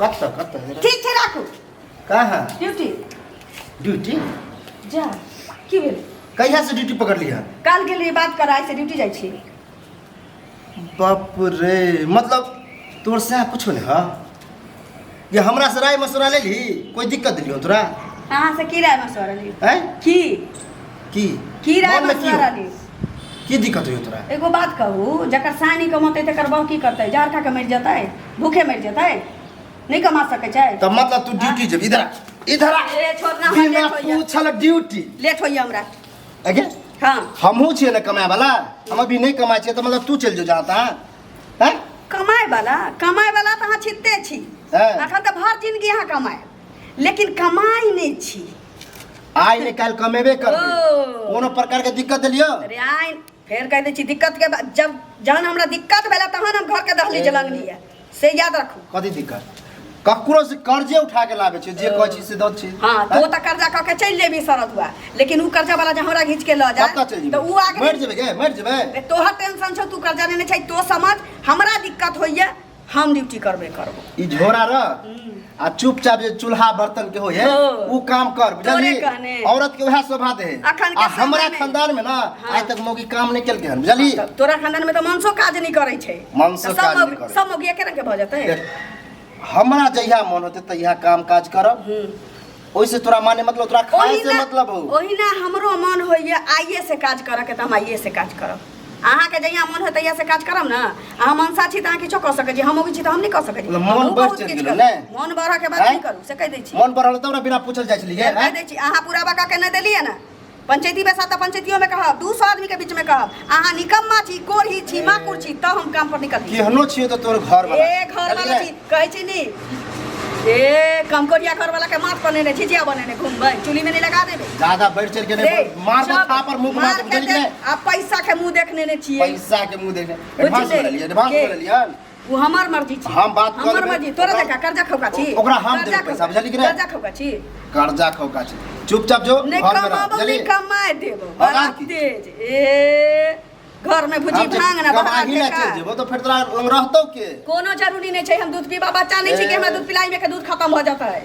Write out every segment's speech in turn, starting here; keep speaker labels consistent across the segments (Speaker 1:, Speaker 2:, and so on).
Speaker 1: कट से कट से जरा। ठीक छै राखू कहाँ ड्यूटी ड्यूटी जा की भेल कहिया से ड्यूटी पकड़ लिया काल गेली बात करा से ड्यूटी जाइ छी बाप रे मतलब तोर से कुछो नहीं है ये हमरा से राय मशुरा ले ली कोई दिक्कत दिलियो तोरा अहाँ से की राय मशवरा ली हैं की की की राय मन में की मसला हो? रहली की दिक्कत होई तोरा एगो बात कहू जकर साय नहीं कमतै तकर बहू की करतै जहर खा के मरि जेतै भूखे मरि जेतै नहीं कमा सकै छै तब मतलब तू ड्यूटी जब इधर आ, इधर आ। ए, छोड़ ना, हमरा बिना लेट होइए। पूछल ड्यूटी लेट होइए हमरा अगे हाँ हमहूँ छियै ने कमाए वाला हम अभी नहीं कमाए छियै तऽ मतलब तू चलि जो जाता हैं कमाए वाला कमाए वाला तऽ अहाँ छिते छी हैं? अखन तऽ भर जिनगी अहाँ कमाए लेकिन कमाई नहीं छी आइ ने काल्हि कमेबे करबै ओ। कोनो प्रकार के दिक्कत देलियो अरे आइ फेर कह दै छी दिक्कत के बा- जब जहन हमरा दिक्कत भेला तहन हम घर के दहली जलन लिया से याद रखू कथी दिक्कत ककरो से कर्जे उठा के लाबे छै जे कहै छी से दत छी हाँ तो वो तो कर्जा कह के चल जेबी शरद हुआ लेकिन उ कर्जा वाला जहाँ हमरा घींच के ल जाए कतऽ चलि तो उ आगे मरि जेबै के मरि जेबै तोहर टेंशन छौ तू कर्जा लेने छै तो समझ हमरा दिक्कत होइए हम ड्यूटी करबे करबो ई झोरा रख आ चुपचाप जे चूल्हा बर्तन के होय है हाँ। उ काम कर तोरे बुझली कहने। औरत के वह शोभा दे है अखन के आ हमरा समय में। खानदान में ना हाँ। आज तक मौगी काम नहीं केलके हन बुझली तब तोरा खानदान में तो मनसो काज नहीं करे छै मनसो तऽ सब काज मौगी- नहि करै। सब मौगी एके रंग के भऽ जेतै देख, हमरा जहिया मन होते तहिया काम काज करब हम्म। ओइसे तोरा माने मतलब तोरा खाए ओहिना- से मतलब हो ओहिना हमरो मन होइए आइए से काज करऽके तऽ हम आइए से काज करब अहाँके जहिया मन होय तहिया से काज करब ने अहाँ मनसा छी तऽ अहाँ किछो कऽ सकै छी हम अबै छी तऽ हम नहि कऽ सकै छी मतलब मन हमहूँ बढ़ि बहुत चलि किछु गेल, करब। नहि? मन बढ़ऽके बात आँय? नहि करू से कहि दै छी मन बढ़ल तब ने बिना पूछल जाइ छलियै से कहि आँय? दै छी अहाँ पूरा बका के नहि देलियै ने पंचायती बैसा तो पंचायतियों में कहब दू सौ आदमी के बीच में कहब अहाँ निकम्मा छी कोढ़ी छी माकुर छी तब हम काम पर निकल केहनो छियो तो तोर घर वाला ए घर वाला छी कहै छी नी ए कमकोरिया घर वाला के माथ बनेने झिझिया बनेने घूमबै चुली में नहीं लगा देबे दादा बैठ चल के नहीं मार दो था पर मुंह मार दे आ पैसा के मुंह देखने ने छिए पैसा के मुंह देखने एडवांस ले लिया एडवांस ले लिया उ हमर मर्जी छी हम बात कऽ हमर लेबै। मर्जी तोरा ओकरा- देखा कर्जा खौका छी ओकरा हम कर्जा देबै पैसा, खौका- बुझलियै कि नहि? कर्जा खौका छी कर्जा खौका छै चुपचाप जो नहि घर में रह कमाबो बुझलियै नहि कमाए देबो बड़ा बड़ा की? तेज ए घर में भुजी हम जे भांग ना बड़ा कमाही ला चलि बेकार। जेबो तऽ फेर तोरा लग रहतौ के कोनो जरूरी नहीं चाहिए हम दूध पीबा बच्चा नहीं चाहिए हमरा दूध पिलाई में के दूध खत्म हो जाता है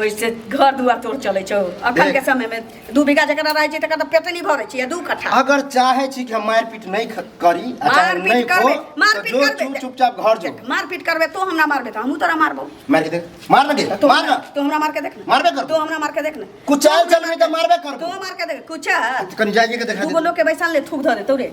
Speaker 1: ओइसे घर दुआर तोड़ चले छौ अखन के समय में दू बीघा जकरा रहे छै तकर त पेट नहीं भरे छै दू कट्ठा अगर चाहे छी कि हम मारपीट नहीं ख- करी आ चाहे मारपीट नहीं करबे, को मारपीट जो करबे। चुप- चुपचाप घर जो मारपीट करबे तो हमरा मारबे त हमहू तोरा मारबो मार के देख मार लगे तो मार ना तो हमरा मार के देख ना मारबे कर। तो हमरा मार के देख ना कुछ चाल चल नहीं तो मारबे कर तो मार के देख कुछ है तो कनी जाइए के देखा दूगो दे लोग के बैसल ले थूक धरे तोरे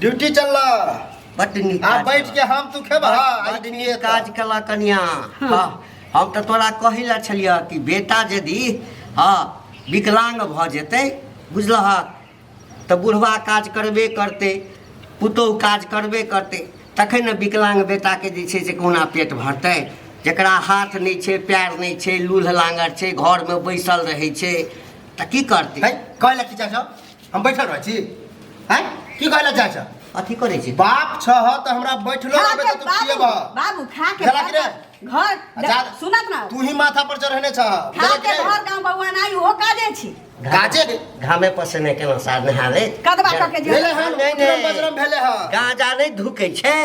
Speaker 1: ड्यूटी चल बट आ बैठ के हम तू खेबा आज दिन ये काज कला कन्या हाँ, हम तो तोरा कही ला छलिया कि बेटा यदि हाँ विकलांग भ जेते बुझलह तो बुढ़वा काज करबे करते पुतोह काज करबे करते तखन ने विकलांग बेटाके जे छै से कोना पेट भरतै जकरा हाथ नहि छै पैर नहि छै लूल्ह लाङ्गर छै घरमे बैसल रहै छै तऽ की करतै है कहले की चाचा हम बैठल रहै छी हैं की कहला चाहे छ अथी करे छी बाप छ ह त हमरा बैठलो खा रहबे के त तू बाबू, खिएबह बाबू खा के जरा घर गिरे। घर अच्छा, सुनत ना तू ही माथा पर चढ़ने छ खा जरा के गिरे। घर गांव भगवान आई हो काजे छी काजे रे। घामे पसेने केना सार नहावे कदबा क के जे भेले हन नहीं, नहीं। विक्रम बजरम भेले ह गांजा नहीं धुके छै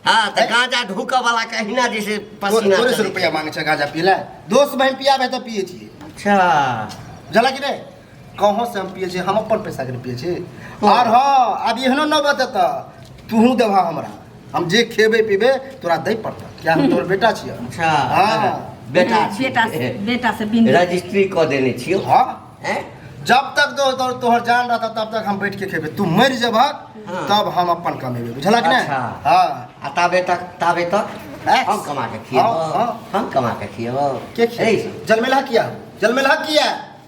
Speaker 1: हां त हैं? गांजा ढुक वाला कहिना जैसे पसीना तोरे से चले। रुपया मांगे छ गाजा पीला दोस्त बहन पियाबे त पिए छी अच्छा जला कि रे कहाँ से हम पिए छी हम अपन पैसा के पिए छी और हाँ अब एहनो न बते त तूहू देबा हमरा हम जे खेबे पीबे तोरा दे पड़ता क्या हम तोर बेटा छियै अच्छा हाँ। बेटा छी। बेटा से बेटा से बिन रजिस्ट्री कऽ देने छियौ हाँ हैं? जब तक तो तोर तोहर जान रहता तब तक हम बैठ के खेबे तू मर जेबहक हाँ। तब हम अपन कमेबे बुझलक ने अच्छा। हाँ आ ताबे तक ताबे तक हैं? हम कमा के खियेबो हाँ, हाँ। हम कमा के खियेबो के ए, जलमेला किया जलमेला किया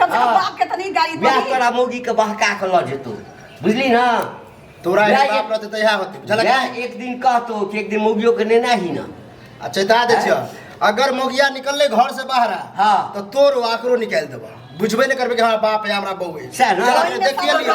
Speaker 1: कम से कम हाँ। बाप के तो नहीं गाली ब्याह पड़ी तोरा मौगी के बहका के लऽ जेतौ बुझली ना तोरा ब्याह हिसाब एक- रहते तऽ इएह होते बुझलक ब्याह एक दिन कहतौ कि एक दिन मौगियो के नेना ही ना आ चेता दै छियो अगर मोगिया निकलले घर से बाहर हाँ। तो तोर आकरो निकाल देबा बुझबे नहि करबे कि हमरा बाप या हमरा बहू है सएह ने? चल, देखिए लिअ।